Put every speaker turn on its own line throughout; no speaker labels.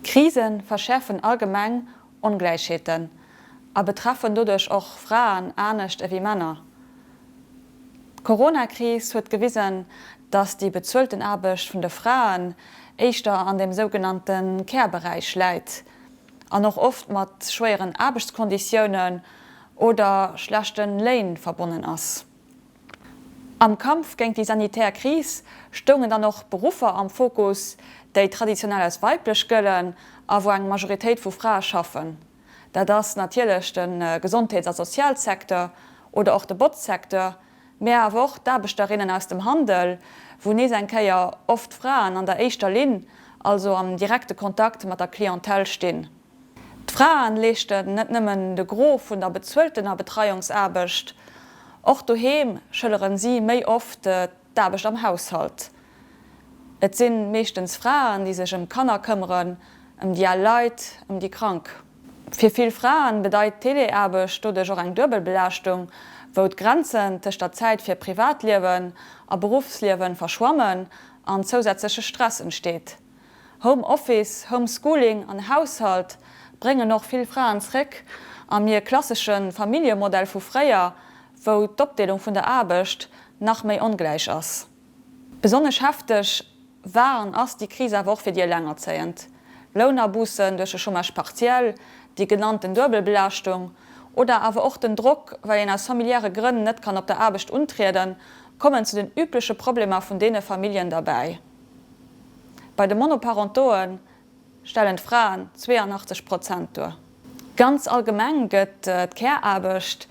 Krise verschäerfen allgemeng Ongläichheeten a betreffen doduerch och Fraen anescht ewéi Männer. D'Corona-Kris huet gewisen, datt déi bezuelten Aarbecht vun de Fraen éischter an dem sougenannte Care-Beräich läit an och oft mat schwéieren Aarbechtskonditiounen oder schlechte Léin verbonnen ass. Am Kampf géint déi sanitär Kris stoungen dann och Beruffer am Fokus, déi traditionell als weiblech gëllen a wou eng Majoritéit vu Frae schaffen. Dat ass natierlech de Gesondheets a Sozialsecteur oder och de Botzsecteur, mä awer och d'Aarbechterinnen aus dem Handel, wou nees eng Kéier oft Fraen an der éischter Linn, also am direkte Kontakt mat der Clientèle stinn. D'Fraen leeschten net nëmmen de Gros vun der bezueltener Betreiungsaarbecht, och doheem schëlleren si méi oft d'Aarbecht am Haushalt. Et si meeschtens Fraen, déi sech ëm d'Kanner këmmeren, ëm déi al Leit, ëm déi Krank. Fir vill Fraen bedeit d'Teleaarbecht doduerch och eng duebel Belaaschtung, wou d'Grenzen tëscht der Zäit fir Privatliewen a Beruffsliewen verschwammen an zousätzleche Stress entsteet. Home Office, Home Schooling an Haushalt bréngen och vill Fraen zréck a mir klassesche Familljemodell vu fréier, wou d'Opdeelung vun der Aarbecht nach méi ongläich ass. Besonnesch hefteg war an ass déi Kris awer och fir déi Elengerzéiend. Lounaboussen duerch de Chômage partiel, déi genannten Duebelbelaaschtung oder awer och den Drock, well een aus familiäre Grënn net kann op der Aarbecht untrieden, kommen zu den übleche Problemer vun deene Familljen derbäi. Bei de Monoparentoe stellen d'Fraen 82 Prozent duer. Ganz allgemeng gëtt d'Care-Aarbecht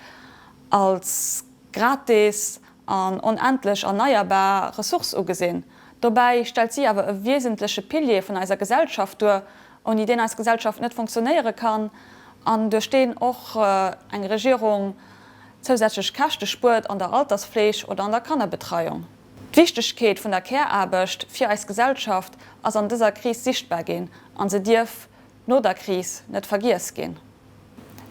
als gratis an onendlech erneierbar Ressource ugesinn. Dobäi stellt si awer e wiesentleche Pilier vun eiser Gesellschaft duer, ouni deen eis Gesellschaft net funktionéiere kann an duerch deen och eng Regierung zousätzlech Käschte spuert an der Altersfleeg oder an der Kannerbetreiung. D'Wichtegkeet vun der Care-Aarbecht fir eis Gesellschaft ass an dëser Kris sichtbar ginn a se dierf no der Kris net vergiess ginn.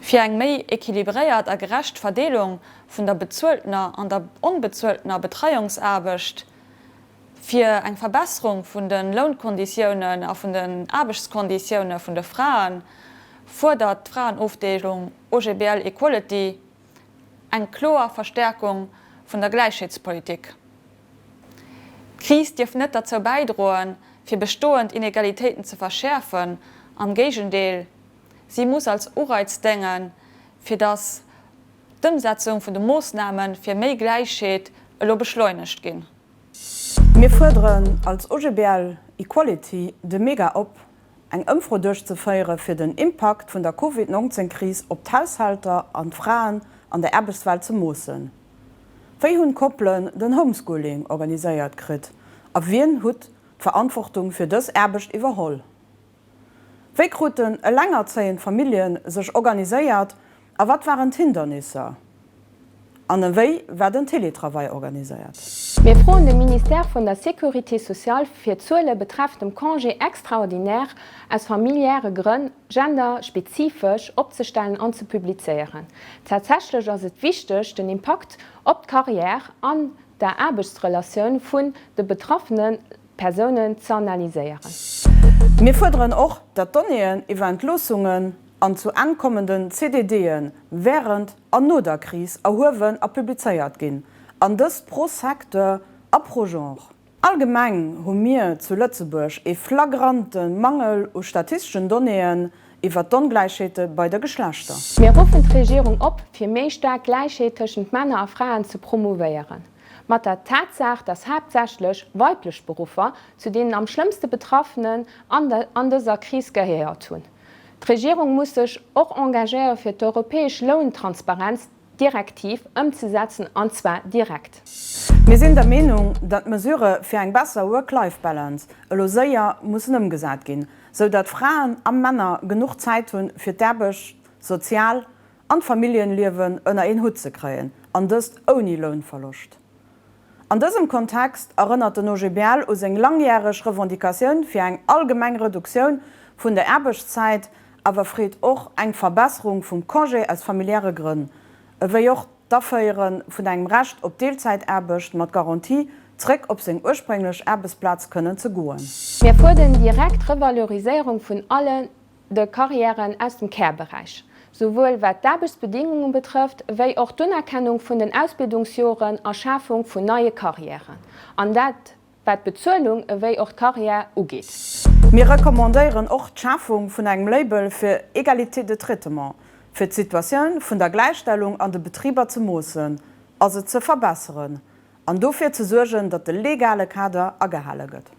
Fir eng méi equilibréiert a gerecht Verdeelung vun der bezueltener an der onbezueltener Betreiungsaarbecht, fir eng Verbesserung vun de Lounkonditiounen a vun den Aarbechtskonditioune vun de Fraen, fuerdert d'Fraenofdeelung OGBL Equality, eng kloer Verstäerkung vun der Gläichheetspolitik. D'Kris dierf net derzou bäidroen, fir bestoend Inegalitéiten ze verschäerfen, am Géigendeel, si muss als Ureiz déngen, fir datt d'Ëmsetzung vun de Moossname fir méi Gläichheet elo beschleunegt ginn. Mir
fuerderen als OGBL Equality de Mega op, eng Ëmfro duerchzeféiere fir den Impakt vun der Covid 19 Kris op d'Haushälter an d'Fraen an der Aarbechtswelt ze moossen. Wéi hunn d'Koppelen den Homeschooling organiséiert kritt a wien hutt d'Verantwortung fir dës Aarbecht iwwerholl? Wéi kruten elengerzéiend Famillje sech organiséiert A wat waren d'Hindernisser? An ewéi war den Teletravail organiséiert? Mir froen de
Ministère vun der Sécurité sociale fir Zuele betreffend dem Congé extraordinaire aus familiäre Grënn genderspezifesch opzestellen an ze publizéieren. Tatsächlech ass et wichteg, den Impakt op d'Carrière an der Aarbechtsrelatioun vun de betraffene Persounen z'analyséieren. Mir
fuerderen och, datt d'Donnéeën iwwer Entloossungen an zu Enn kommenden CDDe während an no der Kris erhuewen a publizéiert ginn, an dëst pro Secteur a pro Genre. Allgemeng hu mir zu Lëtzebuerg ee flagrante Mangel u statisteschen Donnéeën iwwert d'Ongläichheete bei de Geschlechter. Mir ruffen d'Regierung
op, fir méi staark Gläichheet tëschent Männer a Fraen ze promouvéieren. Mat der Tatsaach, dass haaptsächlech weiblech Beruffer zu deenen am schlëmmste Betraffenen an dëser Kris gehéiert hunn, D'Regierung muss sech och engagéiere fir d'europäesch Lountransparenzdirektiv ëmzesetzen, an zwar direkt. Mir sinn der
Meenung, datt d'Mesure fir eng besser Work-Life-Balance elo séier mussen ëmgesat ginn, sou datt Fraen a Männer genuch Zäit hunn, fir d'Aarbecht sozial an d'Familljenliewen ënner een Hutt ze kréien, an dëst ouni Lounverloscht. An dësem Kontext erënnert den OGBL u seng langjäreg Revendicatioun fir eng allgemeng Reduktioun vun der Aarbechtszäit, awer freet och eng Verbesserung vum Congé aus familiäre Grënn, ewéi och d'Aféiere vun engem Recht op Deelzäitaarbecht mat Garantie, zréck op seng ursprénglech Aarbechtsplaz kënnen ze goen. Mir fuerden
direkt d'Revaloriséierung vun alle de Carrièren aus dem Care-Beräich, souwuel wat d'Aarbechtsbedingunge betrëfft, wéi och d'Unerkennung vun den Ausbildungsjoren a Schafung vun neie Carrièren, an dat wat d'Bezuelung ewéi och d'Carrière ugeet. Mir
recommandéieren och d'Schafung vun engem Label fir Égalité de traitement, fir d'Situatioun vun der Gläichstellung an de Betriber ze moossen a se ze verbesseren an dofir ze suergen, datt de legale Kader agehale gëtt.